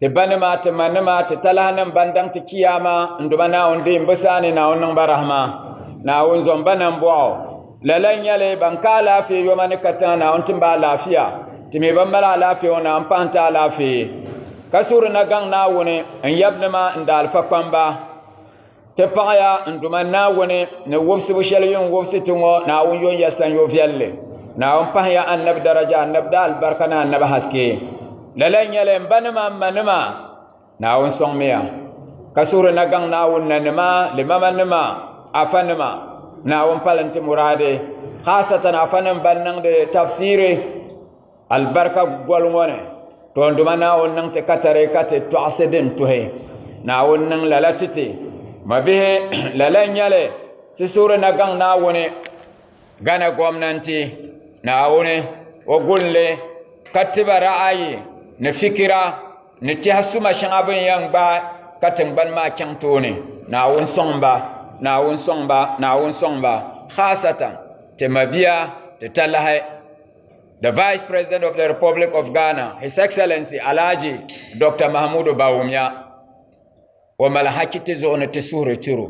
Ti ba nima, ti ma nima, ti talahi nim ban daŋ ti kiyaama n duma naawuni deei bi saa ni naawuni niŋ ba rahima. Naawuni zom ba nam bɔɣu. Lala n nyɛli ban ka alaafee yoma ni ka tiŋa naawuni tim ba alaafia. Ti mi ban mali alaafee ŋɔ naawuni pahi n ti alaafee. Ka suhiri na gaŋ naawuni n yab nima n daalifa kpamba. Ti paɣaya n duma Naawuni ni wobisibu shɛli yun wobisi ti ŋɔ Naawuni yɔn ya sanyo viɛlli Naawuni pahiya annabi daraja annabi daa alibarika ni annabi haske lala n nyɛli m ba nima m ma nima Naawuni sɔŋmiya ka suhuri na gaŋ Naawuni na nima limama nima afa nima Naawuni pali n ti muraadi haasatan afa nim ban niŋdi tafsiri Alibarika goli ŋɔ ni toonduma Naawuni niŋ ti katari ka ti tɔɣisi din tuhi Naawuni niŋ lala ti ti mabihi lala nyɛli ti suhuri na gaŋ Naawuni Ghana gomnanti Naawuni o gulinli ka tiba ra'ayi ni fikira ni tɛha suma shɛŋa bin yɛn gbaai ka tingbani maa chaŋ tooni Naawuni sɔŋba Naawuni sɔŋba Naawuni sɔŋba haasatan ti mabiya ti talahi The Vice President of the Republic of Ghana, His Excellency Alhaji Dr. Mahamudu Bawumia, o mali haki ti zuɣu ni ti suhuri tiro.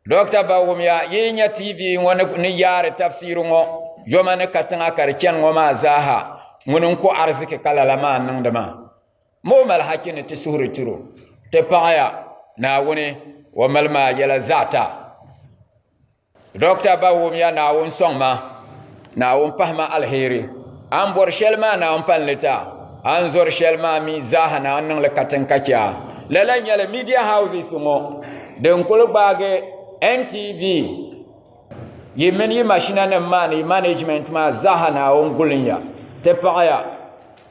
Dr. Bawumia yi nya TV ŋɔ ni yaari tafsiri ŋɔ yoma ni katiŋa ka di chani ŋɔ maa zaaha ŋuni n-ku arziki ka lala maa niŋdi maa. Mo mali haki ni ti suhuri tiro. Ti paɣaya Naawuni o mali maa yɛla zaɣita. Dɔkta ba wumya Naawuni sɔŋ ma, Naawuni pahi ma alheri. A ni bɔri shɛli maa na a ni pali ni ta, a ni zɔri shɛli maa mi zaaha na a ni niŋ li katiŋ ka chɛ a. Lala nyɛla media houses ŋɔ din kuli gbaagi NTV yi mini yi mashinanim maa ni yi management maa zaaha Naawuni guli n ya, ti paɣi ya.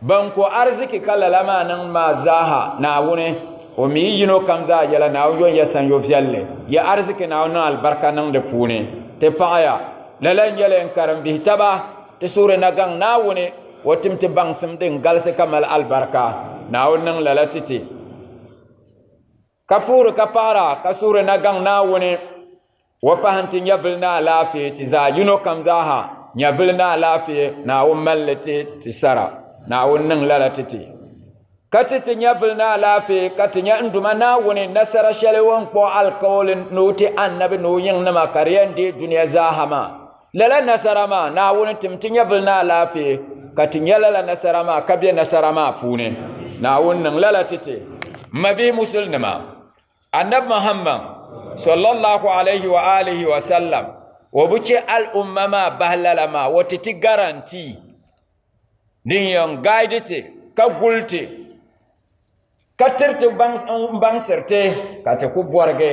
Ban ko arziki ka lala maa niŋ maa zaaha Naawuni, o mi yi yino kam zaa yɛla Naawuni yɔn ya sanyo viɛlli, ya arziki Naawuni niŋ alibarika niŋ di puuni. Ti paɣiya, lala n-nyɛla n karimbihi taba, ti suhiri na gaŋ Naawuni, o tim ti baŋsim din galisi ka mali alibarika. Naawuni niŋ lala ti ti. Ka puhiri ka paɣira ka suhiri na gaŋ Naawuni, o pahi nti nyɛvili ni alaafee ti zaa, yino kam zaa ha, nyɛvili ni alaafee, Naawuni mali li ti ti sara, Naawuni niŋ lala ti ti. Ka ti ti nyɛvili ni alaafee ka ti nya n Duuma Naawuni nasara shɛli o ni kpuɣi alikauli ni o ti Annabi ni o yiŋnima ka di yɛn deei dunia zaa ha maa. Lala nasara maa, Naawuni tim ti nyɛvili ni alaafee, ka ti nya lala nasara maa ka be nasara maa puuni. Naawuni niŋ lala ti ti. M mabihi musulinima, Annabi Muhammad, sallallahu alayhi wa alihi wa sallam, o bi che al'umma maa bahi lala maa, o ti ti guarantee din yɛn guide ti, ka guli ti, ka tiri ti baŋ, n baŋsiri ti, ka ti ku bɔrigi.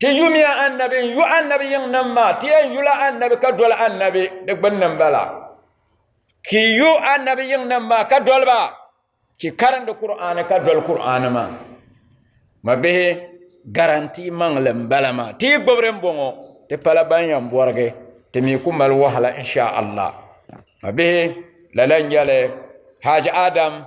Ti yumiya annabi n-yu annabi yiŋnim maa, ti yɛn yula annabi ka doli annabi di gbinni m-bala. Ki yu annabi yiŋnim maa ka doli ba, ki karindi Kur'aani ka doli Kur'aani maa. Mabihi, garantii maŋli m-bala maa. Ti yi gbubi di m-bɔŋɔ, ti pala ban yɛn bɔrigi, ti mi ku mali wahala insha Allah. Mabihi, lala n-nyɛli Haji Adam.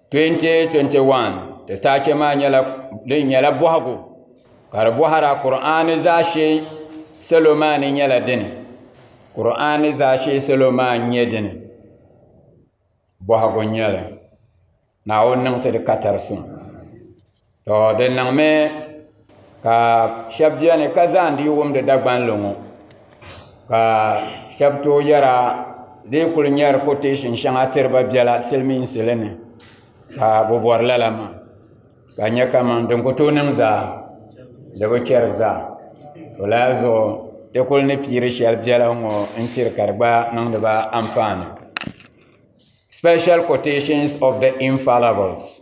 2021 ti taachɛ maa nyɛla din nyɛla bɔhigu ka di bɔhara kur'ani zaashee salo maa ni nyɛla dini kur'ani zaashee salo maa n nyɛ dini bɔhigu n nyɛli naawuni niŋ ti di katari suŋ tɔ di niŋmi ka shɛba beni ka zaandi yi wumdi Dagban lo ŋɔ ka shɛba tooi yɛra di yi kuli nyari koteeshin shɛŋa tiri ba biɛla silimiinsi li ni ka bɛ bɔri lala maa ka nya kaman din ku tooi niŋ zaa di bi chɛri zaa di lan zuɣu ti kuli ni piiri shɛli biɛla ŋɔ n-tiri ka di gba niŋdi ba anfaani sipɛshɛl koteeshin ofu de infalabels.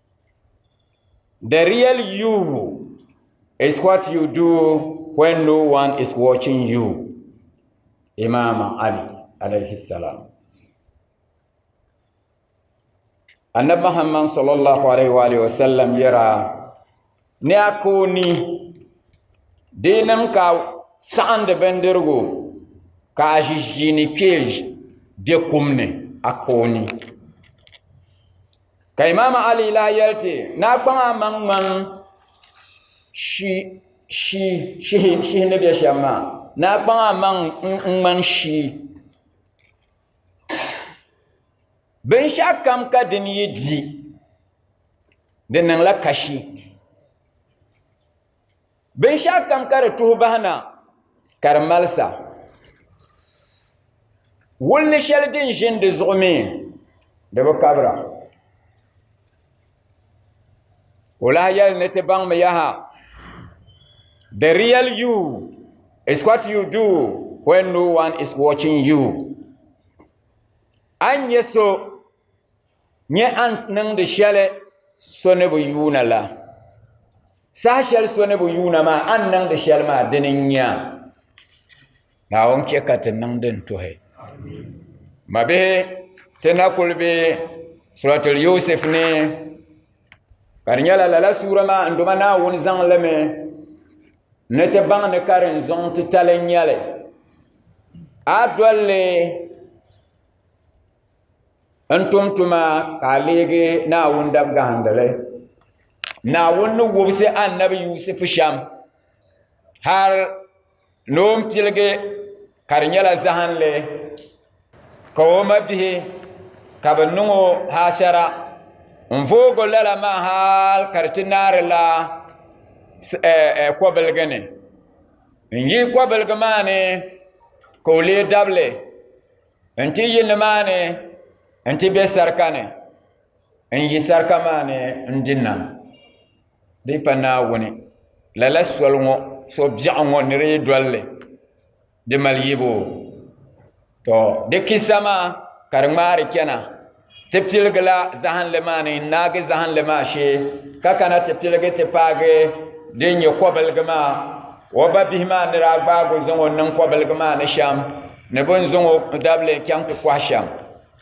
The real you is what you do when no one is watching you. Imam Ali alayhi salam. Annabi Muhammad sallallahu alayhi wa sallam yɛra ni a ka o ni dee niŋ ka a saɣindi bindirigu ka a ʒi ʒiini kpee be kum ni a ka o ni ka Imam Ali lahi yɛli ti ni a kpaŋ a maŋ ŋman shihi ni be shɛm maa ni a kpaŋ a maŋ ŋman shii Binshɛɣu kam ka din yi di, di niŋla kashi. Binshɛɣu kam ka di tuhi bahi na, ka di malisa. Wulli shɛli din ʒin di zuɣu mi, di bi kabira. O lahi yɛli ni ti baŋmi yaha, The real you is what you do when no one is watching you. A ni nyɛ so nyɛ a ni niŋdi shɛli so ni bi yuuna la, saha shɛli so ni bi yuuna maa a ni niŋdi shɛli maa dini n-nyɛ a. Naawuni chɛ ka ti niŋ din tuhi. Mabihi, ti na kuli be Suratul Yusuf ni. ka di nyɛla lala suura maa n doma naawuni zaŋlimi ni ti baŋ ni ka din zuŋ titali n nyɛli a dolli n tum tuma ka a leegi naawuni dabgahandili naawuni ni wubisi annabi yusufu shɛm har ni o ni piligi ka di nyɛla zahinli ka o mabihi ka bi niŋ o haashara n voogo lala maa hal ka di ti naari la kɔbiligi ni n yi kɔbiligi maa ni ka o lee dabili n ti yi nimaani n ti bɛ sarika ni n yi sarika maa ni n di nam Di pa Naawuni, lala soli ŋɔ, so biɛɣu ŋɔ ni di yi dolli, di mali yibu. To, di kissa maa ka di ŋmaari chana, ti piligila zahinli maa ni n-naagi zahinli maa shee, ka kana ti piligi ti paagi din nyɛ kɔbiligi maa. O ba bihi maa ni daa gbaag o zaŋ o niŋ kɔbiligi maa ni shɛm, ni bɛ ni zaŋ o dabili chaŋ ti kɔhi shɛm.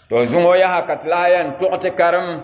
To zuŋɔ yaha ka ti lahi yɛn tuɣi ti karim.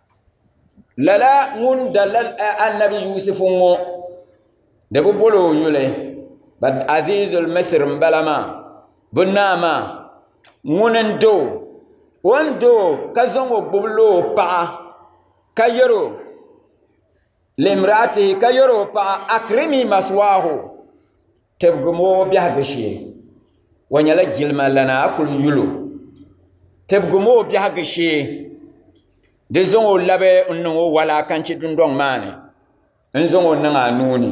lala ŋun dalila annabi yusufu ŋɔ di bi bol o yuli azizul misir n bala maa bi naa maa ŋun n do o ni do ka zaŋ o gbubi loo paɣa ka yɛro limraatihi ka yɛr o paɣa akrimi maswaahu tibigim o biɛhigu shee o nyɛla jilima lana a kuli yul o tibigim o biɛhigu shee di zaŋ o labi n niŋ o walakanchi dundɔŋ maa ni n zaŋ o niŋ a nuu ni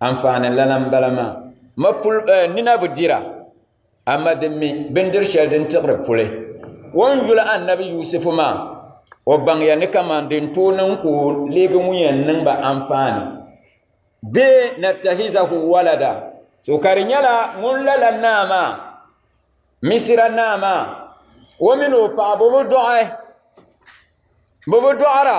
Anfaani lana m-bala maa. Mapul eh, nina bi dira, amma di mi bindir shɛli din tiɣiri puli. O ni yuli Annabi Yusufu maa, o baŋya ni kaman din tooi niŋ ka o leegi ŋun yɛn niŋ ba anfaani. Bee nattahizahu walada, so ka di nyɛla ŋun lala naa maa, Misira naa maa, o min o paɣa bɛ bi dɔɣi, bɛ bi dɔɣira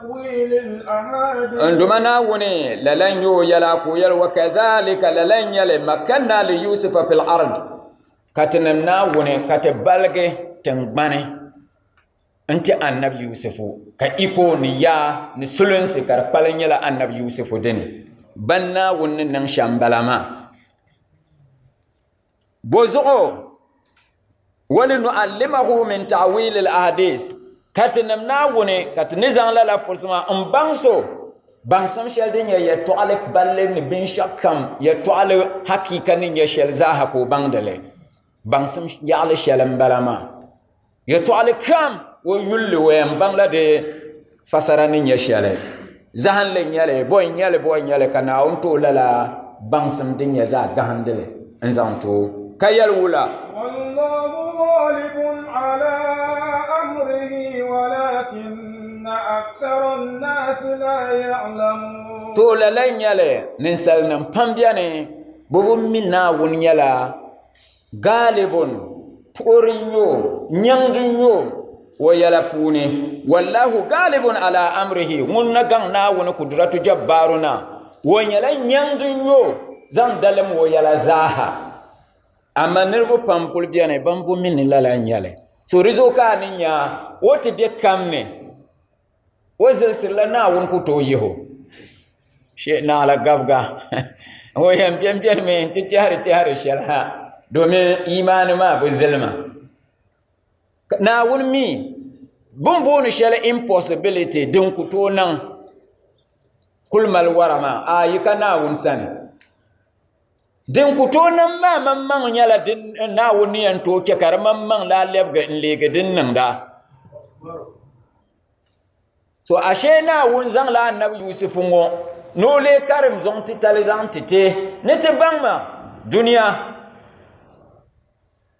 n duma naawuni lala n yo yɛla ka o yɛli wa kazalika lala n nyɛli makanna li yusufa fil ard ka ti niŋ naawuni ka ti baligi tingbani n ti annabi yusufu ka iko ni yaa ni sulinsi ka di kpali nyɛla annabi yusufu dini ban naawuni ni niŋ shɛm bala maa Bɔzuɣu walinuallimahu min ta'wilil ahadis ka ti nim Naawuni ka ti ni zaŋ lala furisi maa n baŋ so baŋsim shɛli din nyɛ yɛtɔɣali balli ni binshɛɣu kam yɛtɔɣali hakiika ni nyɛ shɛli zaaha ka o baŋdi li baŋsim yaɣili shɛli m-bala maa. Yɛtɔɣili kam o yuli o yɛn baŋla di fasara ni nyɛ shɛli zahinli nyɛli bɔi nyɛli bɔi nyɛli ka naawuni too lala baŋsim din nyɛ zaɣ gahindili n zaŋ to ka yɛli wula to lala nyɛli ninsalinim pam bɛni bɛ bi mi naawuni nyɛla Gaalibun, puɣiri n-nyɛ o, nyaŋdi n-nyɛ o, o yɛla puuni, Wallahu gaalibun ala amrihi, ŋun na gaŋ Naawuni Kudratu Jabbaaru na, o nyɛla nyaŋdi n-nyɛ o, zaŋ dalim o yɛla zaaha. Amaa niriba pam kul beni bɛn bo mi ni lala n-nyɛli. So di zuɣu ka a ni nya o ti be kam ni. O zilsirila Naawuni ku tooi yihi o shee naala gabiga o yɛn biɛnbiɛni mi n ti tɛhiri tɛhiri shɛli ha domin imaani maa bi zilima Naawuni mi bin booni shɛli impossibility din ku tooi niŋ kuli mali wara maa a yi ka Naawuni sani Din ku tooi niŋ maa maŋmaŋ nyɛla din Naawuni ni yɛn tooi chɛ ka di maŋmaŋ daa lɛbigi n-leegi din niŋda. To ashe Naawuni zaŋla Annabi Yusufu ŋɔ ni o lee karim zuŋ titali zaŋ ti ti ni ti baŋ ma dunia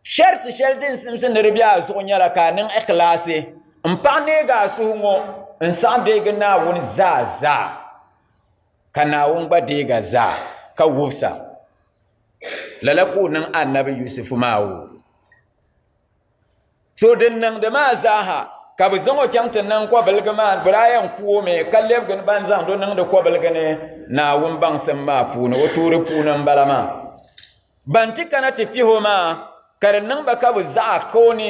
sharti shɛli din simsi ni di be a zuɣu nyɛla ka a niŋ ikhlaasi m-paɣ neeg a suhu ŋɔ n-saɣi deegi Naawuni zaa zaa. ka Naawuni gba deega zaa ka wubisa. Lala ka o niŋ Annabi Yusufu maa o. So din niŋdi maa zaaha ka bɛ zaŋ o chaŋ ti niŋ kɔbiligi maa biraaya n-ku o mi ka lɛbigi ni ban zaŋdi o niŋdi kɔbiligi ni Naawuni baŋsim maa puuni o tuuri puuni m-bala maa. Ban ti kana ti pihi o maa ka di niŋ ba ka bɛ zaɣa ka o ni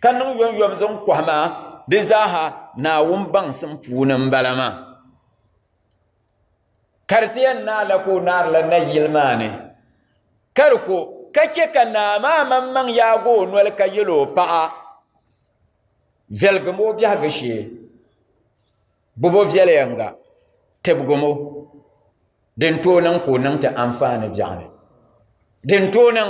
ka niŋ yomyom zaŋ kɔhi ma di zaaha Naawuni baŋsim puuni m-bala maa. Ka di ti yɛn naala ka o naarila nayili maa ni, ka di ko, ka chɛ ka naa maa maŋmaŋ yaag o noli ka yɛl o paɣa, Viɛligim o biɛhigu shee, gbib o viɛlieŋga, tibigim o, din tooi niŋ ka o niŋ ti anfaani biɛɣuni, din tooi niŋ.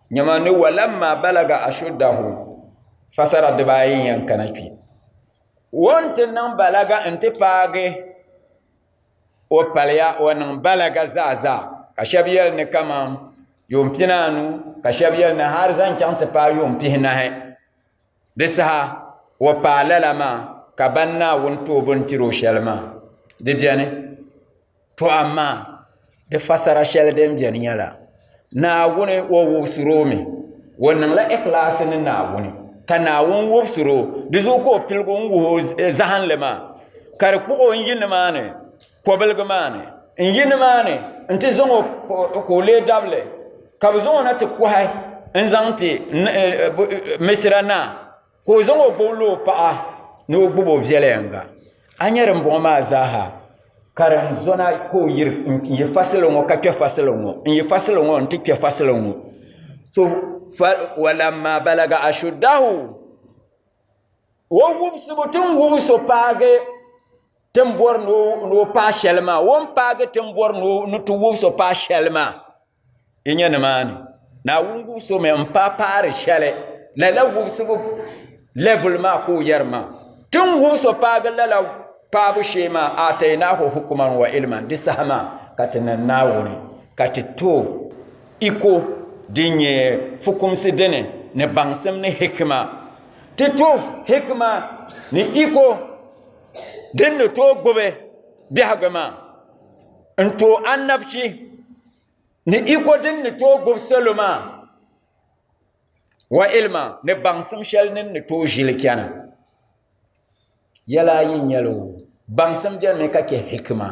Nyama ni walamma balaga ashuddahu fasara dibaayi n yɛn kana kpi o n ti niŋ balaga n ti paagi o paliya o niŋ balaga zaa zaa ka shɛb yɛli ni kaman yuun pinaanu ka shɛb yɛli ni hali zaŋ chaŋ ti paai yuun pihinahi Di saha o paai lala maa ka ban Naawuni tooi bini tiri o shɛli maa, di beni. To amaa di fasara shɛli din beni nyɛla, Naawuni o wubisiri o mi, o niŋla ikhlaasi ni Naawuni, ka Naawuni wubisiri o, di zuɣu ka o piligi n-wuhi o zahinli maa, ka di kpuɣi o n-yi nimaani kɔbiligi maa ni n yi ni maa ni n ti zaŋ o ka o lee dabili ka bi zaŋ o na ti kɔhi n zaŋ ti eh, eh, misira naa ka o zaŋ o gbubi o paɣa ni o gbubi o viɛlɛyanga a nyɛ din bɔŋɔ maa zaaha ka din zɔna ka o yiri n yi fasili ŋɔ ka kpɛ fasili ŋɔ n yi fasili ŋɔ n ti kpɛ fasili ŋɔ so walamma balaga ashuddahu o wubisibu tin wubiso paagi ti ni bɔri ni o paai shɛli maa o ni paagi ti ni bɔri ni ti wubi so paai shɛli maa yi nyɛ nimaani naawuni wubi so mi n paai paari shɛli lala wubisibu lɛvul maa ka o yɛri maa ti ni wubi so paagi lala paabu shee maa aataynaahu hukuman wa ilman di saha maa ka ti niŋ naawuni ka ti to iko din nyɛ fukumsi dini ni baŋsim ni hikima ti to hikima ni iko Din ni tooi gbubi biɛhigu maa n-tooi annabchi ni iko din ni tooi gbubi salo maa wa ilima ni baŋsim shɛli ni ni tooi ʒili chana. Yɛl ayi n-nyɛ li o, baŋsim beni mi ka chɛ hikima.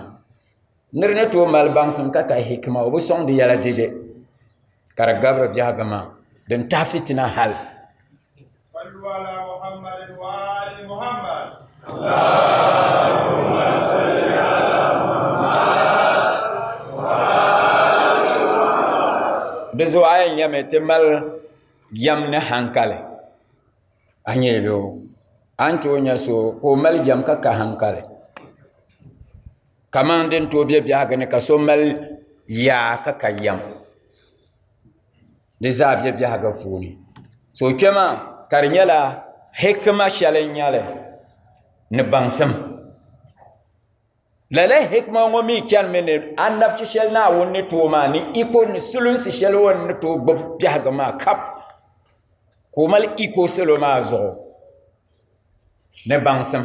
Nir ni tooi mali baŋsim ka ka hikima, o bi sɔŋ di yɛla dɛde, ka di gabiri biɛhigu maa, din tahi fitina hal. Di zuɣu a yɛn nyɛmi ti mali yɛm ni haŋkali. a nyɛ loo a ni tooi nyɛ so ka o mali jɛm ka ka hankali kamani din tooi bɛ biɛhagu ni ka so mali yaa ka ka yɛm di zaa bɛ biɛhagu puuni so kpɛma ka di nyɛla hikima shɛli n nyɛli ni baŋsim Lala hikima ŋɔ mi chanimi ni annabchi shɛli Naawuni ni tooi maa ni iko ni sulinsi shɛli o ni tooi gbubi biɛhigu maa kap ka o mali iko salo maa zuɣu ni baŋsim.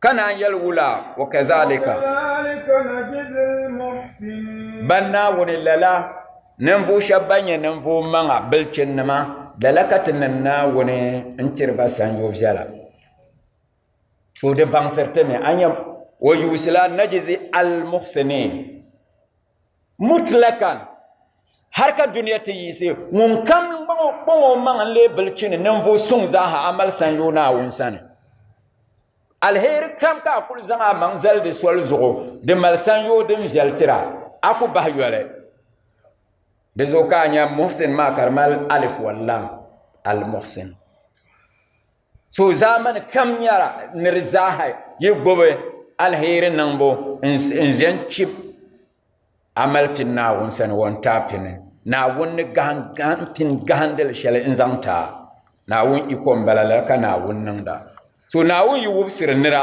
Ka naan yɛli wula, wa kazalika ban Naawuni lala ninvuɣ shɛba ban nyɛ ninvuɣ maŋa bilichinnima lala ka ti niŋ Naawuni n-tiri ba sanyo viɛla. so di baŋsiriti ni a nyɛ o yuusila najizi almuhsinin mutlakan hali ka duniya ti yiisi ŋun kam kpaŋ o maŋ n lee bili chini ninvuɣu suŋ zaaha amali san yo naawuni sani alheri kam ka a kuli zaŋ a maŋ zali di soli zuɣu di mali san yo din viɛli tira a ku bahi yoli di zuɣu ka a nya muhsin maa ka di mali alif wallam almuhsin So zaamani kam nyɛla ni di zaaha yi gbubi alheri niŋbu n-ʒe n-chib amalipin Naawuni sani wɔntaapini. Naawuni ni gahim pin gahindili shɛli n-zaŋ ti a. Naawuni iko m-bala lala ka Naawuni niŋda. So Naawuni yi wubisiri nira.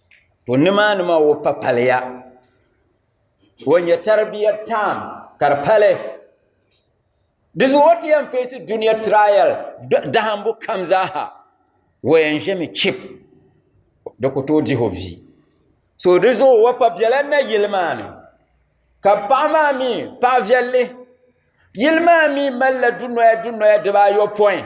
To nimaani maa o pa paliya o nyɛ taribiya tam ka di pali di zuɣu o ti yɛn feesi duniya trial dahambu kam zaaha o yɛn ʒɛmi chip di ku tooi dihi o bia so di zuɣu o pa biɛla na yili maa ni ka paɣa maa mi paɣa viɛlli yili maa mi malila dunoya dunoya dibaayɔpɔin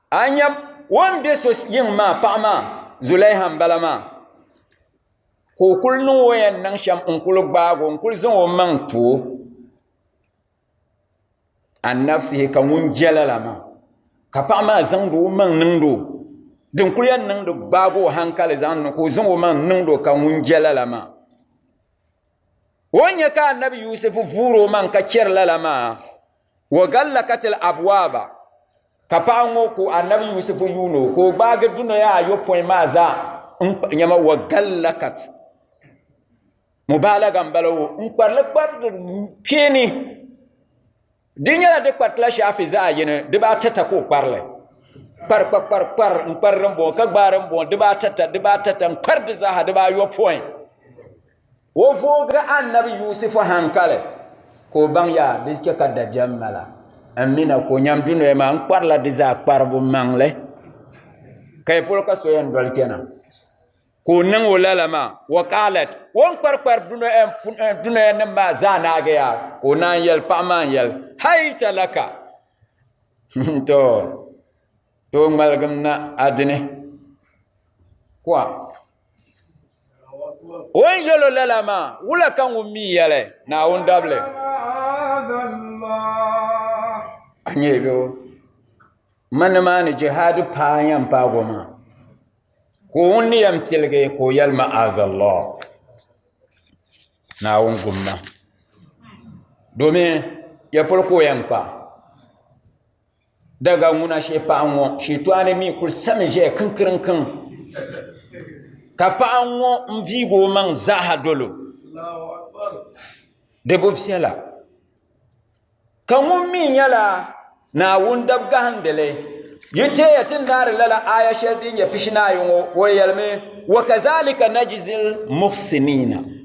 A ni nya o ni be so yiŋ maa paɣa maa, Zulaiha m-bala maa, ka o kul niŋ o yɛn niŋ shɛm n-kul gbaag o n-kul zaŋ o maŋ ti o an nafsihi, ka ŋun je lala maa, ka paɣa maa zaŋdi o maŋ niŋd o, din kul yɛn niŋdi gbaag o haŋkali zaŋ niŋ ka o zaŋ o maŋ niŋd o ka ŋun je lala maa. O ni nya ka Annabi Yusufu vuur o maŋ ka chɛri lala maa, Wa gallakatil abwaaba ka paɣa ŋɔ ku annabi Yusufu yuuno ka o gbaagi dunoya ayopɔin maa zaa nyɛma wa gallakat mubaalaga n bala o n kparili kpariti kpeeni di nyɛla di kparitila shaafi zaɣa yini dibaata ta ka o kparili kpari kpari kpari kpari n kpari din bɔŋɔ ka gbaari n bɔŋɔ dibaata ta dibaata ta n kpari di zaaha dibaayopɔin O vooi annabi Yuusufu hankali ka o baŋ yaa di chɛ ka dabiɛm mala n mi na ka o nyam dunoya maa n kparila di zaa kparibu maŋli ka yi polo ka so yɛn doli kpɛna ka o niŋ o lala maa wa kaalat o ni kpari kpari dunoya nim maa zaa naagi yaa ka o naan yɛli paɣa maa n yɛli hai talaka to to ŋmaligim na adini kuwa O ni yɛl o lala maa, wula ka ŋun mi yɛli, Naawuni dabili? A nya bɛ o. Ma nimaani jihaadi paai yɛn paag o maa, ka o ŋun ni yɛn piligi ka o yɛli ma'azallah, Naawuni gum ma, domin ya polo ka o yɛn kpa. Daga ŋuna shee paɣa ŋɔ shitɔɣani mi kuli sami ʒɛya kinkirinkiri ka paɣa ŋɔ n viigi o maŋ zaaha dolo di bi viɛla ka ŋun mi nyɛla naawuni dabigahandili yi teeya ti ni daari lala aaya shɛli din nyɛ pishi naayɔŋɔ o yɛlimi wa kazalika najizil muhsinina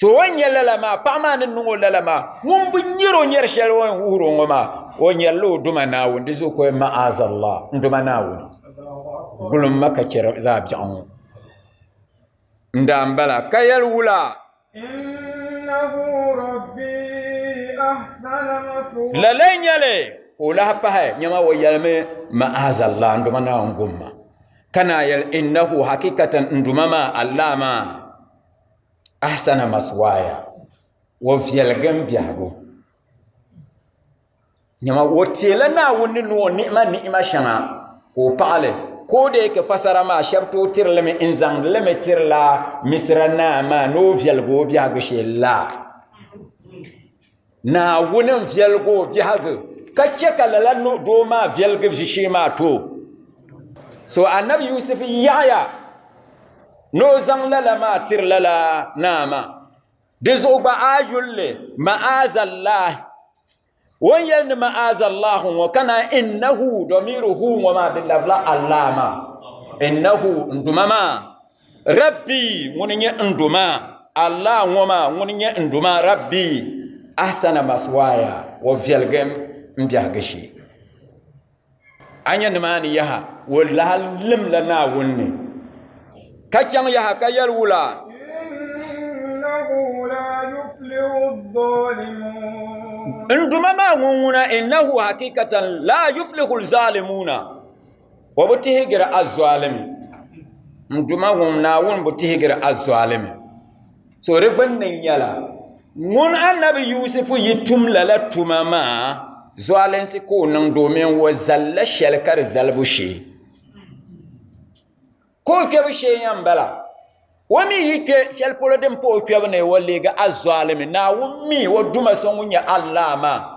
So o ni nyɛ lala maa, paɣa maa ni niŋ o lala maa, ŋun bi nyɛri o nyɛri shɛli o ni wuhiri o ŋɔ maa, o nyɛrila o duma Naawuni, di zuɣu ka o yɛn ma'azallah, n duma Naawuni, gulim ma ka chɛri zaa biɛɣu ŋɔ. N daa n bala, ka yɛli wula? Lala n nyɛli, ka o lahi pahi, nyɛma o yɛlimi ma'azallah, n duma Naawuni gumma, ka naa yɛli innahu hakikatan n duma maa, Allah maa. ahsana maswaaya o viɛligi n biɛhigu nyɛma o teela naawuni ni o ni'ima ni'ima shɛŋa ka o paɣali ka o dee ka fasara maa shɛb tooi tirilimi n zaŋdilimi tirila misira naa maa ni o viɛligi o biɛhigu shee la Naawuni n viɛligi o biɛhigu ka chɛ ka lala doo maa viɛligi ʒishee maa too. So anabi Yusuf yaɣiya ni o zaŋ lala maa tiri lala naa maa. Di zuɣu gba a yulli ma'azallahi o ni yɛli ni ma'azallahi ŋɔ ka naan innahu domiru hu ŋɔ maa di labila Allah maa innahu n duma maa Rabbi ŋuni nyɛ n do maa, Allah ŋɔ maa ŋuni nyɛ n do maa Rabbi ahsana maswaaya o viɛligim m biɛhigu shee. A nya nimaani yaha o lahi limla Naawuni ni ka chaŋ yaha ka yɛli wula? N duma maa ŋun ŋuna innahu hakikatan laa yuflihu zaalimuuna O bi tihigiri azɔalimi. N Duuma ŋun Naawuni bi tihigiri azɔalimi. So di gbinni nyɛla ŋun Annabi Yusufu yi tum lala tuma maa zɔalinsi ka o niŋ domin o zali la shɛli ka di zalibu shee. Ka o kpɛbu shee yɛn bala. O mi yi kpɛ shɛli polo din pa o kpɛbu ni o leegi azɔalimi. Naawuni mi o Duuma so ŋun nyɛ Allah maa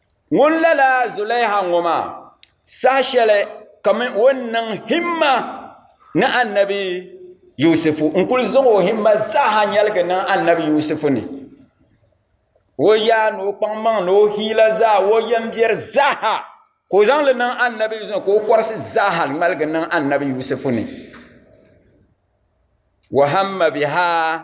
Ŋun lala Zulaiha ŋɔ maa, saha shɛli ka mi o ni niŋ himma ni Annabi Yusufu, n-kul zaŋ o himma zaaha nyaligi niŋ Annabi Yusufu ni, o yaa ni o kpaŋmaŋ ni o hiila zaa, o yɛmbiɛri zaaha ka o zaŋ li niŋ Annabi Yusufu ni, ka o kɔrisi zaaha ŋmaligi niŋ Annabi Yusufu ni. Wa hamma bihaa.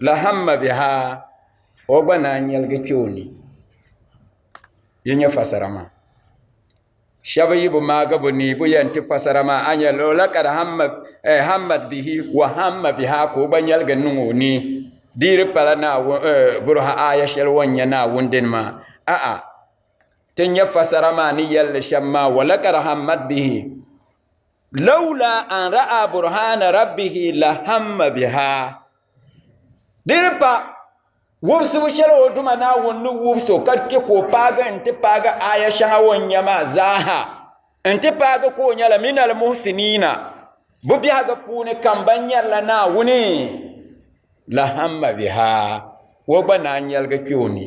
lahamma bɛ ha o gba naan nyɛligi kpɛ o ni yi nyɛ fasara maa shɛba yi bi maagi bi ni bi yɛn ti fasara maa a nyɛ loola ka di hammat eh, bihi wa hamma biha ka o gba nyɛligi niŋ o ni diri pala naawuni eh, buruha aaya shɛli o nyɛ naawuni dini maa a'a ti nyɛ fasara maa ni yɛlli shɛm maa wala ka di hammat bihi Lawla an ra'a burhana rabbihi la hamma biha. Di ni pa wubisibu shɛli o Duuma Naawuni ni wubisi o ka chɛ ka o paagi nti paagi aya shɛŋa o ni nya maa zaaha nti paagi ka o nyɛla minal muhsiniina, bɛ biɛhigu puuni kam ban nyarila Naawuni, la hamma biha, o gba naan yɛligi kpe o ni.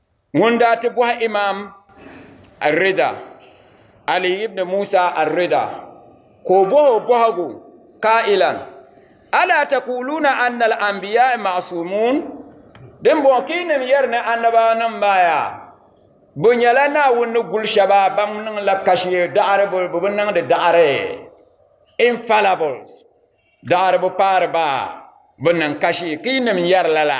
ŋun daa ti bɔhi imam arrida ali ibn musa arrida ka o bɔhi o bɔhigu ka'ilan ala taquluna anna al anbiya ma'sumun din bɔŋɔ ka yi nim yɛri ni annabawa nim maa yaa bi nyɛla naawuni ni guli shɛba ban niŋla kashi daɣari bi bi niŋdi daɣari infallibles daɣari bi paari ba bi niŋ kashi ka yi nim yɛri lala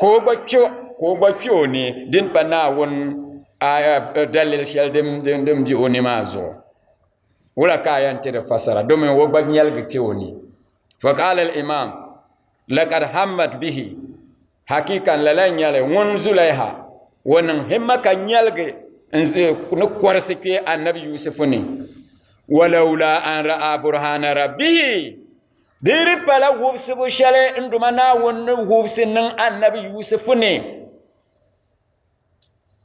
ka o gba kpɛ ka o gba kpɛ o ni din pa naawuni dalili shɛli din bɛ o ni maa zuɣu wula ka a yɛn ti di fasara domi o gba nyɛligi kpɛ o ni fakal imam lakad hammat bihi hakika n lala nyɛli ŋun zulaiha o niŋ himma ka nyɛligi n ʒe ni kɔrisi kpɛ annabi yusufu ni walaula an ra'a burhana rabbihi Di di pala wubisibu shɛli n duma Naawuni ni wubisi niŋ Annabi Yusufu ni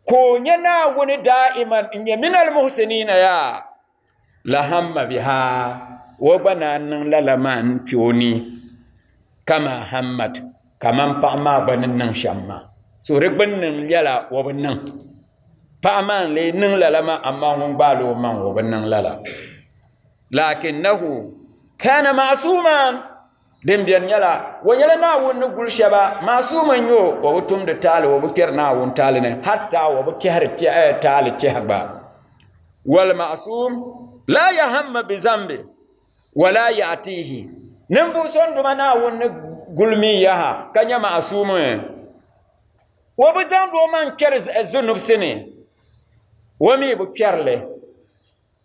ka o nyɛ Naawuni daa'iman n nyɛ minal muhsiniina yaa la hamma biha o gba naan niŋ lala maa n kpe o ni kama hammat kaman paɣa maa gba ni niŋ shɛm maa so di gbinni n lɛla o bi niŋ paɣa maa n lee niŋ lala maa amaa ŋun gbaal o maŋ o bi niŋ lala lakinnahu kana ma'suman din beni nyɛla o nyɛla naawuni ni guli shɛba ma'suma n-nyɛ o o bi tumdi taali o bi kpɛri naawuni taali ni hatta o bi kpɛhiri eh, taali tɛha gba wal ma'sum la yahamma bi zambi wala ya'tihi ninvuɣ so n-duma naawuni ni guli mi yaha ka nyɛ ma'sum o bi zaŋdi o man kpɛri zunubisi ni o mi bi kpɛrili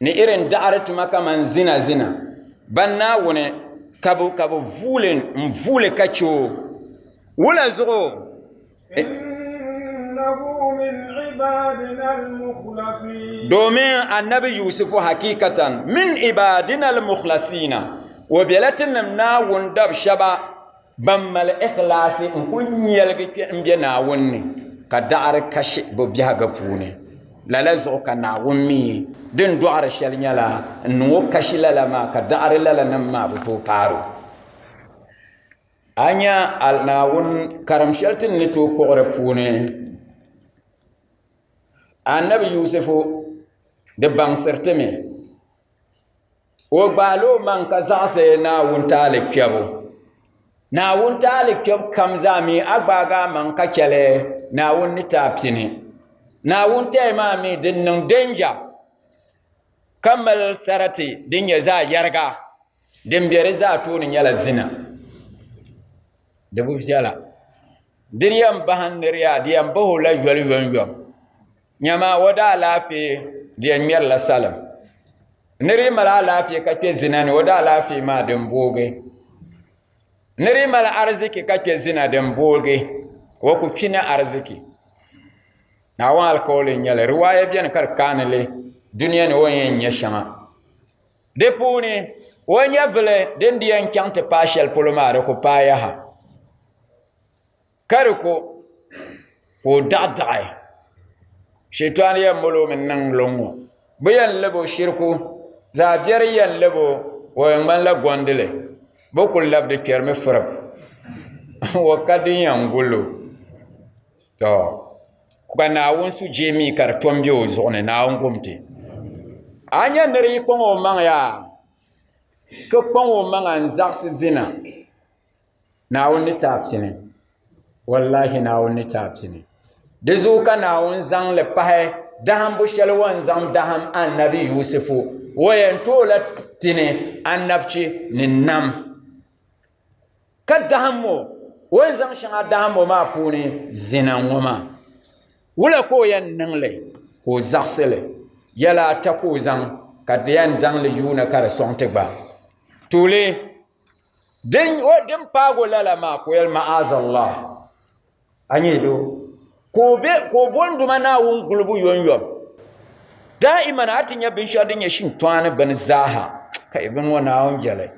ni irin daɣiri tuma kaman zina zina, ban Naawuni ka bɛ ka bɛ vuuli n-vuuli ka chɛ o. Wula zuɣu? Domin Annabi Yusifu hakikatan min ibaadina al-mukhlasiina, o bela tinim Naawuni dab shɛba. Ban mali ikhlaasi n-kul nyɛligi kpe m-be Naawuni ni, ka daɣiri kashi bɛ biɛhiga puuni. Lala zuɣu ka Naawuni mi din dɔɣiri shɛli nyɛla n-niŋ o kashi lala maa, ka daɣiri lala nim maa bi tooi paari o. A nya a Naawuni karim shɛli ti ni tooi kpuɣi di puuni Annabi Yusufu, Di baŋsiri ti mi. O gbaal o maŋ ka zaɣisi Naawuni taali kpɛbu. Naawuni taali kpɛbu kam zaa mi a gbaag a maŋ ka chɛli Naawuni ni ti a pini. Naawuni taya maa mi din niŋ dɛnja ka mali sarati din nyɛ zaɣ yɛriga din be di zaa tooni nyɛla zina. Di bi viɛla. Di di yɛn bahim ni di yaa di yɛn bahi o la yoli yomyom. Nyama o daa laafee di yɛn ŋmɛrila salim ni di mali alaafee ka kpɛ zina ni o daa laafee maa din boogi ni di mali ariziki ka kpɛ zina din boogi o ku kpi ni ariziki naawuni alkawali n nyɛli riwaaya biɛni ka di kaanili duniya ni o ni yɛn nyɛ shɛŋa di puuni o nyɛvili din di yɛn chɛŋ ti paai shɛli polo maa di ku paai yaha ka di ko ka o daɣi daɣi shɛtɔɣu ni yɛn molo min niŋ luŋ ŋɔ bi yɛn labo shiriku zaa biɛri yɛn labo o yɛn ŋmanila gondili bi ku labdi kpɛrimi firib o ka din yɛn gullo tɔ ka naawuni su jee mii ka di tom bɛ o zuɣu ni naawuni gomti a nyɛ niri yi kpaŋ o maŋ yaa ka kpaŋ o maŋa n zaɣisi zina Naawuni ni ti a pini. Wallahi Naawuni ni ti a pini. Di zuɣu ka Naawuni zaŋ li pahi dahimbu shɛli o ni zaŋ dahim Annabi Yusifu. O yɛn tooi la pini annabchi ni nam. Ka dahim o, o ni zaŋ shɛŋa dahim o maa puuni zina ŋɔ maa. Wula ka o yɛn niŋ li ka o zaɣisi li? Yɛla ata ka o zaŋ ka di yɛn zaŋ li yuuni ka di sɔŋ ti gba. Tuuli! Din o din paag o lala maa ka o yɛli, Ma'azallah, a nyɛ doo ka o be ka o bɔndi ma Naawuni gulibu yɔnyɔbu. Daa'iman a ti nya binshɛɣu din nyɛ shintɔɣani bini zaaha, ka yi gindi o Naawuni jɛli.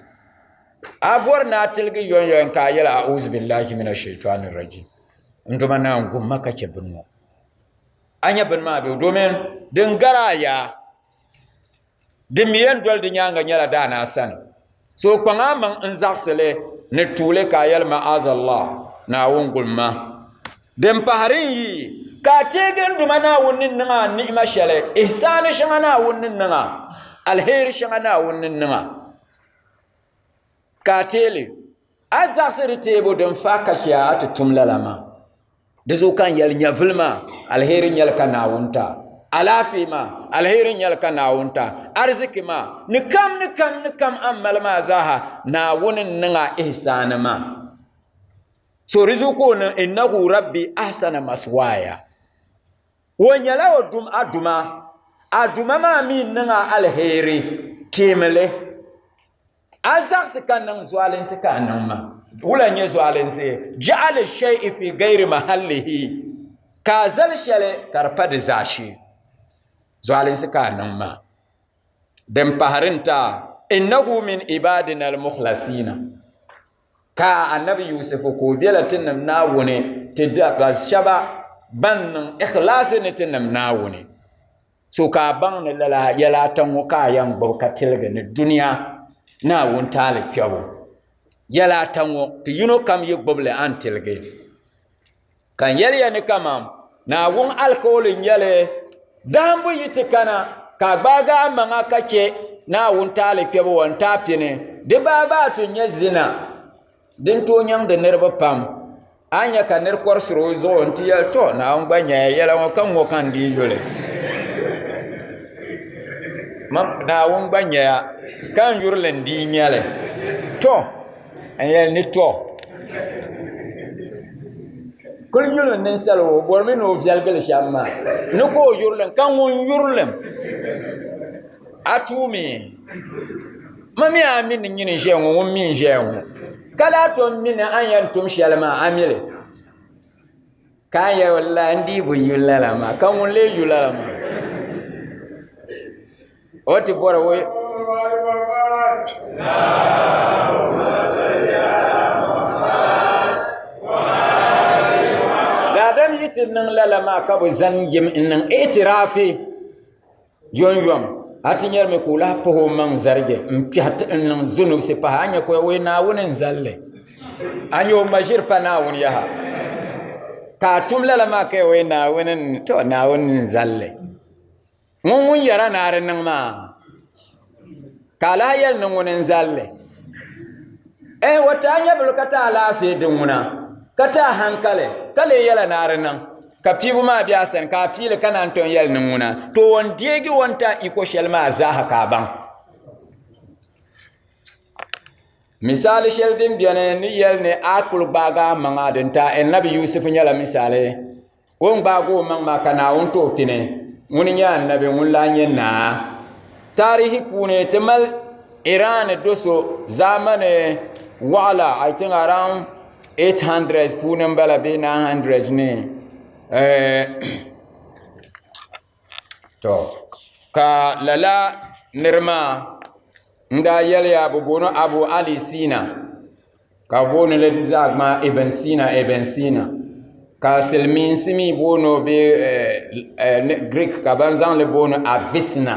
A bɔri ni a tiligi yɔnyɔin ka a yɛli, A'uzubillahi mina shaitɔni rajim, n do ma Naawuni gum ma ka chɛ bini ŋɔ. A nya bini maa bɛ o domin din gari a yaa. Din mi yɛn doli di nyaaŋa nyɛla daana sani. So o kpaŋ a maŋ n-zaɣisi li ni tuuli ka a yɛli Ma'azallah, Naawuni gul ma. Din pahi di n-yi ka a teegi n duma Naawuni ni niŋ a ni'ima shɛli, ihisaani shɛŋa Naawuni ni niŋ a, alheri shɛŋa Naawuni ni niŋ a, ka a teei li. A zaɣisiri teebu din fahi ka chɛ a ti tum lala maa. Di zuɣu ka n yɛli nyɛvili maa, aliheri nyɛli ka Naawuni ta. Alaafee maa, aliheri nyɛli ka Naawuni ta. Ariziki maa, ni kam ni kam ni kam a ni mali maa zaaha, Naawuni n-niŋ a ihisaani maa. So di zuɣu ka o niŋ, Innahu Rabbi ahsana maswaaya. O nyɛla o dum a duma, a duma maa mi n-niŋ a aliheri, teemi li. A zaɣisi ka niŋ zualinsi ka a niŋ maa, wula n-nyɛ zualinsi? Ja'ali shay'i fi gayri mahallihi, ka a zali shɛli ka di pa di zaashee. Zualinsi ka a niŋ maa. Din pahiri n-ti a, Innahu min ibaadina al-mukhlasiina. Ka Annabi Yusufu ka o bela Tinim Naawuni ti dabba shɛba ban niŋ ikhlaasi ni Tinim Naawuni. So ka a baŋ ni lala yɛla ata ŋɔ ka a yɛn gbubi ka tiligi ni dunia ni a wuntaali kpɛbu? Yɛla ata ŋɔ, ti yino kam yi gbubi li, a ni tiligi. Ka n yɛli ya ni kaman Naawuni alikauli n-nyɛ li, Dahimbu yi ti kana, ka a gbaagi a maŋa ka chɛ ni a wuntaali kpɛbu wan ti a pini, di baabaa ti nyɛ zina. Din tooi nyaŋdi niriba pam, a nya ka nir kɔrisiri o zuɣu nti yɛli, Tɔ! Naawuni gba nyaya yɛla ŋɔ, ka ŋ-ŋɔ ka n-dii yuli. Naawuni gba nyaya, ka n yuri li n-dii nya li. Tɔ! N yɛli ni tɔ! Kuli yuli n ninsala o bɔrimi ni o viɛligili shɛm maa, ni ka o yuri li m, ka ŋun yuri li m. A tuumi ma mi a mini nyini ʒɛya ŋɔ ŋun mi n ʒɛya ŋɔ ka lahi tom mi ni a yɛn tum shɛli maa a mili ka a yɛn la n dii bi yu lala maa ka ŋun lee yu lala maa o ti bɔri o daadam yi ti niŋ lala maa ka bi zaŋ yim n niŋ itirafi Yɔnyɔm, a ti nyarimi ka o lahi pahi o maŋ zarigi n-kpɛhi ti n-niŋ zonobisi pahi. A nya ka o yi Naawuni n-zalli. A nya o ma ʒiri pa Naawuni yaha. Ka a tum lala maa ka o yi Naawuni n-zalli. Ŋun ŋun yɛra ni a di niŋ maa. ka alaha yɛli ni ŋuni n zalli eh o taa nyɛvili ka taa alaafee din ŋuna ka taa hankali ka lee yɛla naari niŋ ka piibu maa bɛ a sani ka a piili ka naan ton yɛli ni ŋuna to o ni deegi o ni taa iko shɛli maa zaaha ka a baŋ misali shɛli din biɛni ni yɛli ni a kuli gbaagi a maŋa din taa eh nabi yusufu nyɛla misali O ni gbaagi o maŋ maa ka Naawuni ti o pini, ŋuni nyɛ annabi ŋun lahi nyɛ naa. Taarihi puuni ti mali Iran do so zamani waɣila I think around 800 puuni m-bala bee 900 ni. Eh, to ka lala niri maa n daa yɛliya bi booni abu ali siina ka bi booni li zaa gbaai ibn siina ibn siina ka silmiinsi mii booni o bee giriik ka ban zaŋli booni avisina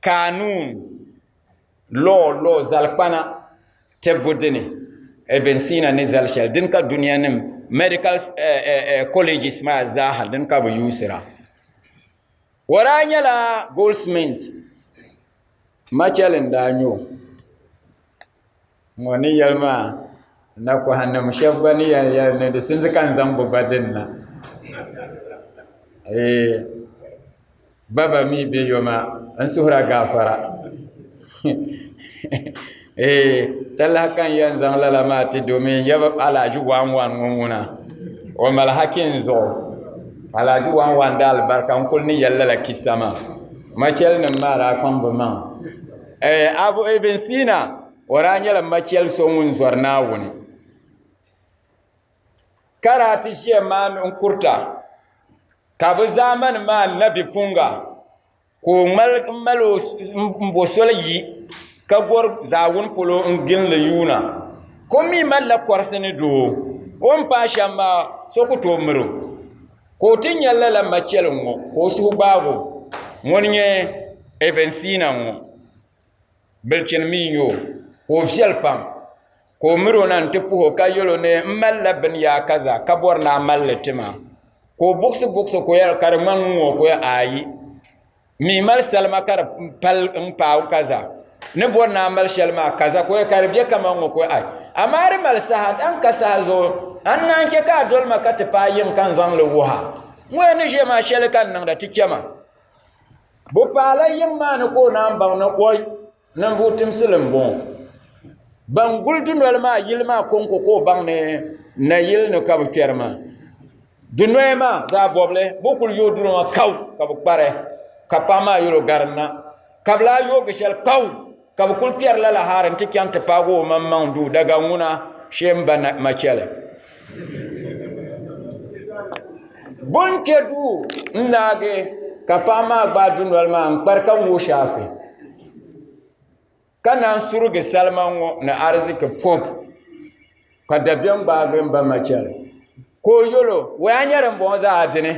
Kanuun, law, law, zalikpana tibbu dini Ibn Sina ni zali shɛli dini ka duniya nim medical eh, eh, eh, colleges maa zaaha dini ka bi yuusira o daa nyɛla goldsmith Machel n daa nyɛ o ŋɔ ni yɛli maa nakohannim shɛba gba ni yɛn yɛli ni di sinsi ka n zaŋ bo ba dini na ba ba mi be yo maa n suhira gaafara talahi ka n yɛn zaŋ lala maa ti domin n yaba alaaji waan waan ŋɔ ŋuna o mali haki n zuɣu alaaji waan waan daalibarika n kuli ni yɛli lala kissa maa machɛlinim maa daa kpaŋ bi maŋa Eh, Abu Ibn Sina o daa nyɛla machɛli so ŋun zɔri Naawuni ka daa ti ʒiya maa n kurita ka bi zaamani maa nabi punga ka o ŋmali n mali o n bo soli yi ka gɔri zaawuni polo n ginli yuuna ka o mi malila kɔrisi ni doo o ni paai shɛm maa so ku tooi miri o ka o ti nya lala machɛlim ŋɔ ka o suhu gbaag o. Ŋuni n-nyɛ Ibn Sina ŋɔ. Bilichini mi n-nyɛ o, ka o viɛli pam, ka o mir o na nti puh o ka yɛl o ni, M malila binyaa kaza ka bɔri ni a mali li ti ma. Ka o buɣisi buɣisi ka o yɛli, Ka di ŋmani ŋun-ŋɔ? Ka o yɛli, Aayi. mi mali salima ka di pali n paai kaza ni bɔri naa mali shɛli maa kaza ko ka di bɛ kama ŋɔ ko ai amaa di mali saha dan ka saha zuɣu an naan chɛ ka a doli ma ka ti paai yim ka n zaŋli wuha ŋɔya ni ʒiya maa shɛli ka n niŋda ti chɛma bi paala yim maa ni ka o naan baŋ ni o Ninvuɣ timsili m-bɔŋɔ. Ban guli dunoli maa yili maa kɔŋko ka o baŋ ni nayili ni ka bɛ kpɛri maa. Dunoya maa zaa bɔbili bɛ kul yooi duri ŋɔ kau ka bɛ kpari, ka paɣ maa yɛl o garinna. Ka bɛ lahi yoogi shɛli kau ka bɛ kul kpɛri lala hara nti chaŋ ti paag o omaŋmaŋ duu daga ŋuna shee m-ba Machɛli. Bonkpɛ duu n daagi ka paɣa maa gbaai dundoli maa n kpari ka ŋo shaafe ka naan surigi salima ŋo ni ariziki pob ka dabiɛm gbaagi n ba ma chɛli ka o yɛlo woy a nyɛ din boŋo zaa dini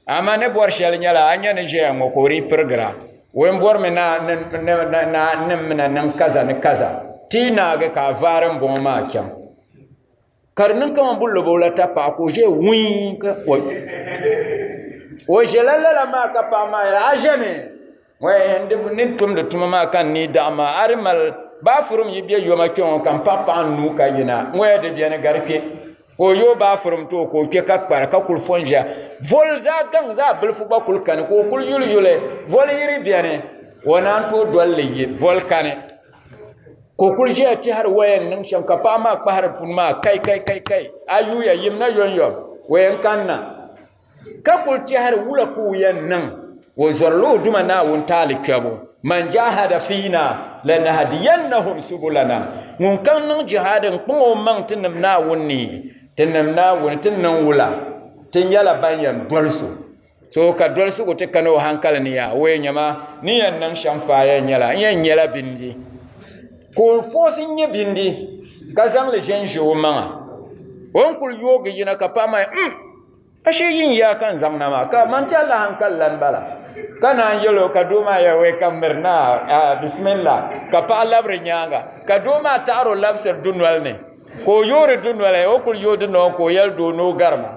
amaa ni bori shɛli nyɛla a ni nyɛ ni ʒɛya ŋo ka o dii pirigra woy n borimi naa n ni niŋ kaza ni kaza ti yi naagi ka a vaari n boŋo maa chɛŋ ka di niŋ kamani bin lobo la ta paɣa ka o ʒɛya wii ka o ʒɛla lala maa ka paɣa maa a ʒɛmi ni tumdi tuma maa ka n nii daɣa maa a di mali baafurum yi bɛ yoma kpɛ ŋo ka n paɣa paɣa n nuu ka yina n waya di biɛni gari kpɛ ka o yooi baafurum too ka o kpɛ ka kpara ka kuli fo n ʒiya voli zaa gaŋ zaa bilifu gba kuli kani ka o kuli yuli yuli voli yiri biɛni o naan tooi dolili yi voli kani ka o kuli ʒɛya tɛhiri waya ni niŋ shɛm ka paɣa maa kpahiri puni maa kai kai kai kai a yuya yimina yɔnyɔ waya n kanna ka kuli tɛhiri wula ka o yɛn niŋ o zɔrila o duma naawuni taali kpɛbu man jahada fiina lanahdiyannahum subulana ŋun kam niŋ jihadi n kpaŋ o maŋ ti nim naawuni ni ti nim naawuni ti niŋ wula ti nyɛla ban yɛn doli so So ka dolsigu ti kana o hankali ni yaa wee nyɛma ni yɛn niŋ shɛm faaya nyɛla n yɛn nyɛla bindi ka o foosi nyɛ bindi ka zaŋli ʒɛnʒɛ o maŋa o ni kuli yoogi yina ka paɣa maa mm ashe yin yaa ka n zaŋ na maa ka man tɛlla hankali lan bala ka naan yɛlo ka doo maa yɛli wee ka miri naa bisimilla ka paɣa labiri nyaanga ka doo maa taɣaro labisiri dunoli ni ka o yoori dunoli o kuli yooi dunoli ka o yɛli doo ni o garima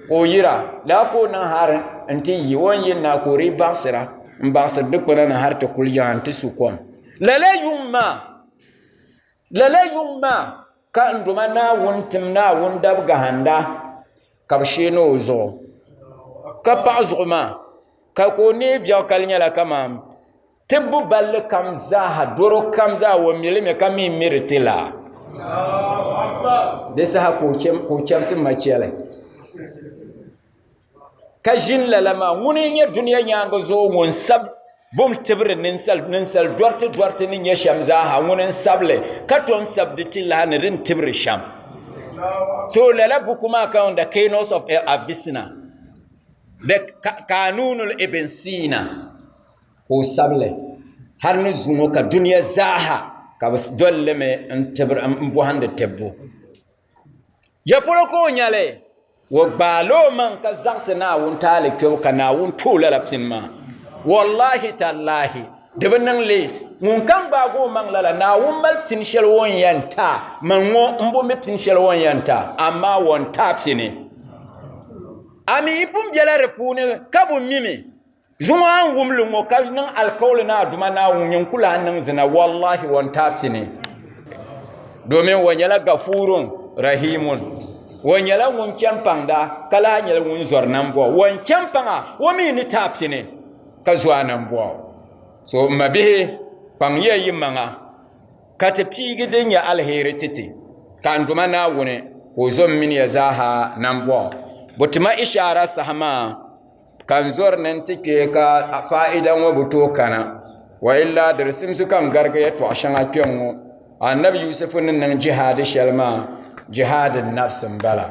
Ka o yira, laa ka o niŋ hal nti yi o ni yiri na ka o dii baɣisira m-baɣisiri dukpuna ni hal ti kuli yaŋ nti su kom. Lala yuŋ maa, lala yuŋ maa ka n Duuma Naawuni tim Naawuni dabigahinda ka bɛ sheeni o zuɣu, ka paɣi zuɣu maa, ka ka o neei biɛɣu ka di nyɛla kaman Tibbu balli kam zaaha, doro kam zaa o mi li mi ka mi miri ti la. Di saha ka o chɛbisi machɛli. Ka ʒini lala maa ŋuni n-nyɛ duniya nyaaŋa zuɣu ŋun sab bum tibiri ninsal dɔriti dɔriti ni nyɛ shɛm zaaha ŋuni n-sab li ka tom sab di ti lahi ni din tibiri shɛm. So lala buku maa ka on The Keynotes of Avicenna, The Kanunul Ibn Sina. ka o sabili hali ni zuŋɔ ka dunia zaaha ka bi dolimi n bɔhindi tibbu ya polo ka o nyɛli o gbaala o maŋ ka zaɣisi Naawuni taali kpɛbu ka Naawuni tu o lala pini maa wallahi tallahi di bi niŋ leet ŋun kam gbaagi o maŋ lala Naawuni mali pini shɛli o ni yɛn ta man ŋɔ n bo mi pini shɛli o ni yɛn ta amaa o ni ta pini a mi yi pun bela di puuni ka bo mimi Zuŋɔ a ni wum li ŋɔ ka niŋ alikauli ni a Duuma Naawuni ŋun ku lahi niŋ zina, wallahi o n-taai ti ni. Domin o nyɛla Gafuurun, Rahiimun. O nyɛla ŋun chani paŋda ka lahi nyɛla ŋun zɔri nambɔɣu. O ni chani paŋa, o mi ni taai ti ni ka zo a nambɔɣu. So m mabihi, kpaŋya yimaŋa ka ti piigi din nyɛ aliheri ti ti, ka n Duuma Naawuni ka o zo m mini ya zaaha nambɔɣu. Bo ti ma ishaara saha maa. ka n zɔri ni n ti kpɛ ka faa'ida ŋɔ bi tooi kana wa illa di simsi ka n garigi yɛtɔɣa shɛŋa kpɛ ŋɔ annabi yusufu ni niŋ jihaadi shɛli maa jihaadi nafsi n bala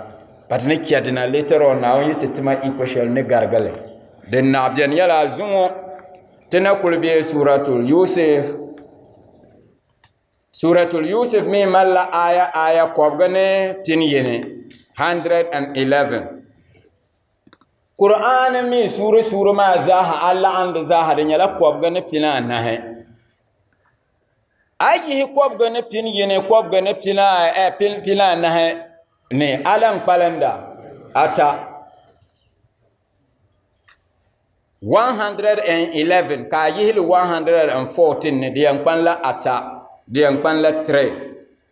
ka ti ni chɛ dina later on naawuni yi ti tima iko shɛli ni garigili din na biɛni yɛla zuŋɔ ti na kuli bɛ suratul yusuf suratul yusuf mii malila aya aya kɔbigi ni pini yini 111 Kur'aani mi suuri suuri maa zaaha a laɣim di zaaha di nyɛla kɔbiga ni pini anahi a yihi kɔbiga ni pini yini kɔbiga ni pini anahi ni a lan kpalinda ata 111 ka a yihili 114 ni di yɛn kpanila ata di yɛn kpanila 3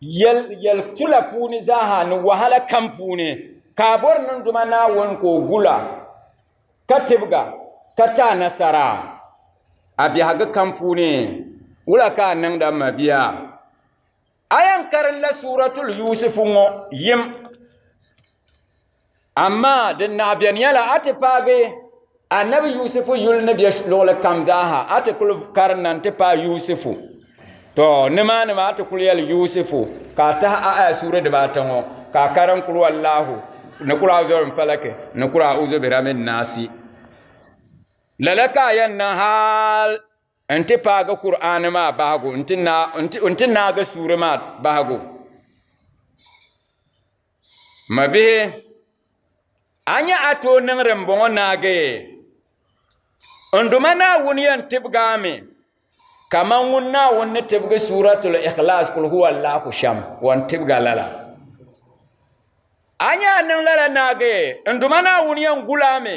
yɛl tula puuni zaaha ni wahala kam puuni ka a bɔri niŋduma Naawuni ka o gula ka tibga ka ti a nasara a biɛhigu kam puuni. Wula ka a niŋdi a mabia? A yɛn karinla Suuratul Yuusufu ŋɔ yim. Amaa din naɣ beni yɛla a ti paagi Annabi Yusufu yuli ni be luɣili kam zaaha a ti kuli karinda nti paai Yusufu. To nimaani maa ti kuli yɛli Yusufu ka a tahi a aya suuri dibaata ŋɔ ka a karim kul wallahu ni kul a'uzu birabbin falaki ni kul a'uzu birabbin naasi. Lala ka a yɛn niŋ hal N ti paagi Kur'aani maa bahigu, n ti naagi suuri maa bahigu. Ma bihi, a nya a tooi niŋdi m bɔŋɔ naagi? N Duuma Naawuni yɛn tibigi a mi kaman ŋun Naawuni ni tibigi Suuratul Ikhlaas, Qul Huwa Allaahu shɛm, o yɛn tibigi a lala. A nya a niŋ lala naagi, n Duuma Naawuni yɛn gul a mi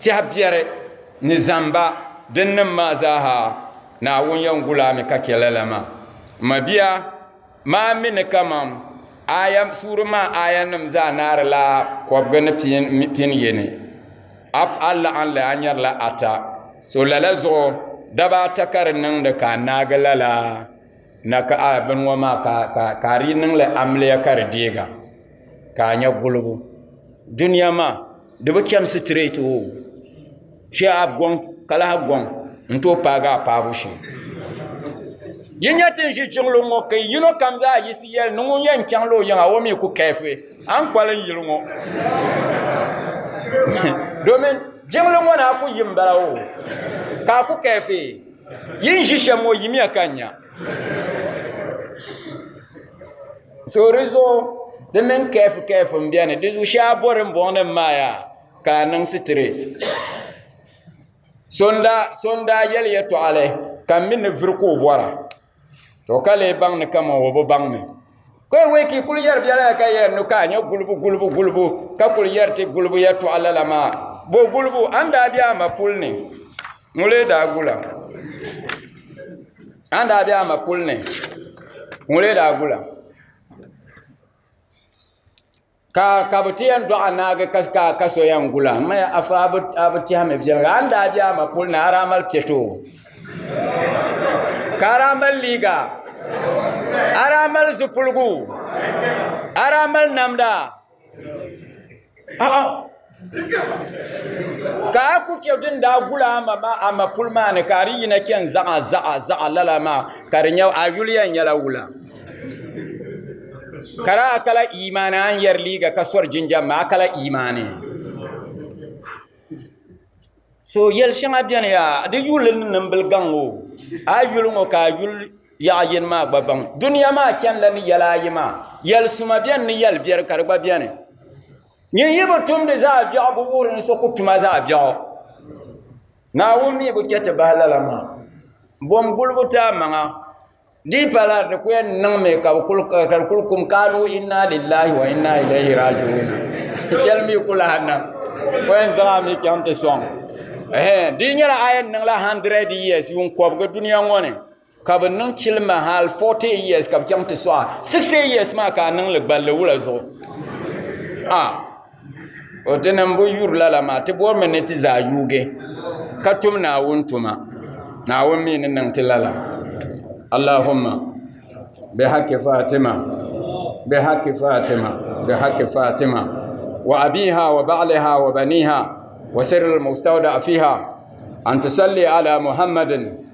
Tɛha biɛri ni zamba din nim maa zaaha Naawuni yɛn gul a mi ka chɛ lala maa. M mabia, maa mi ni kaman aya suuri maa ayanim zaa naarila kɔbiga ni pin yini, a a laɣim li a nyarila ata. So lala zuɣu daba ata ka di niŋdi ka a naagi lala. na ka a bini ŋɔ maa ka ka ka a di niŋli amiliya ka di deega ka a nya gulibu duniya maa di bi chɛm sitirɛt o chɛ a gɔŋ ka lahi gɔŋ n tooi paagi a paabu shee yi nya tin ʒi jiŋli ŋɔ ka yino kam zaa yisi yɛli ni ŋun yɛn chaŋla o yiŋa o mi ku kɛɛfi a ni kpali n yili ŋɔ domin jiŋli ŋɔ na ku yi m bala o ka a ku kɛɛfi Yi ni ʒi shɛm ŋɔ yimiya ka n nya. So di zuɣu di mini kɛɛfu kɛɛfu n bɛni di zuɣu shɛba bori n bɔŋ ni n maa yaa ka a niŋ sitirɛt. So n daa yɛli yɛtɔɣali ka m mi ni vuri ka o bɔra. To ka lee baŋ ni kama o bi baŋ mi. Kɔɛ wee ka i kuli yɛri biɛla ya ka yɛn nu ka a nyɛ gulibu gulibu gulibu ka kuli yɛri ti gulibu yɛtɔɣa lala maa. Bo gulibu a ni daa be a ma puli ni? Ŋɔ lee daa gula. A ni daa be a ma puli ni? Ŋɔ lee daa gula. ka ka bi ti yɛn dɔɣi anaagi ka ka ka so yɛn gula n maya afa a bi a bi tiɛhi mi viɛlli a ni daa bɛ ama puli na a daa mali piɛto ka a daa mali liiga a daa mali zipiligu a daa mali namda a'a Ka a ku chɛ din daa gula a ma maa a mapuli maa ni ka a di yina chɛni zaɣa zaɣa zaɣa lala maa ka di nyɛ a yuliya nyɛla wula. Ka daa kala imaani a ni yɛri liiga ka sɔri jinjam maa a kala imaani. So yɛli shɛŋa bɛni yaa di yuli ni nimbili gaŋ o a yuli ŋɔ ka a yuli yaɣa yini maa gba baŋ duniya maa chɛnila ni yɛli ayi maa yɛli suma bɛni ni yɛli biɛri ka di gba bɛni. Nyin yi bi tumdi zaɣ biɛɣu bi wuhiri ni so ku tuma zaɣ biɛɣu. Naawuni mi bi chɛ ti bahi lala maa. Bom gulibu ti amaŋa di pala di ku yɛn niŋmi ka di kul kum kaalu inna lillahi wa inna ilayhi raaji'uuna. Shɛli mi ku lahi niŋ o yɛn zaŋ a mi chaŋ ti sɔŋ. Di nyɛla a yɛn niŋla 100 years yuun kɔbigi dunia ŋɔ ni. ka bi niŋ chilima hali 40 years ka bi chaŋ ti sɔɣa 60 years maa ka a niŋli gballi wula zuɣu a o ti niŋ bi yuri lala maa ti bɔrimi ni ti zaa yuugi ka tum naawuni tuma naawuni mii ni niŋ ti lala allahumma bi haqqi fatima bi haqqi fatima bi haqqi fatima wa abiha wa ba'liha wa baniha wa sirri al-mustawda fiha an tusalli ala muhammadin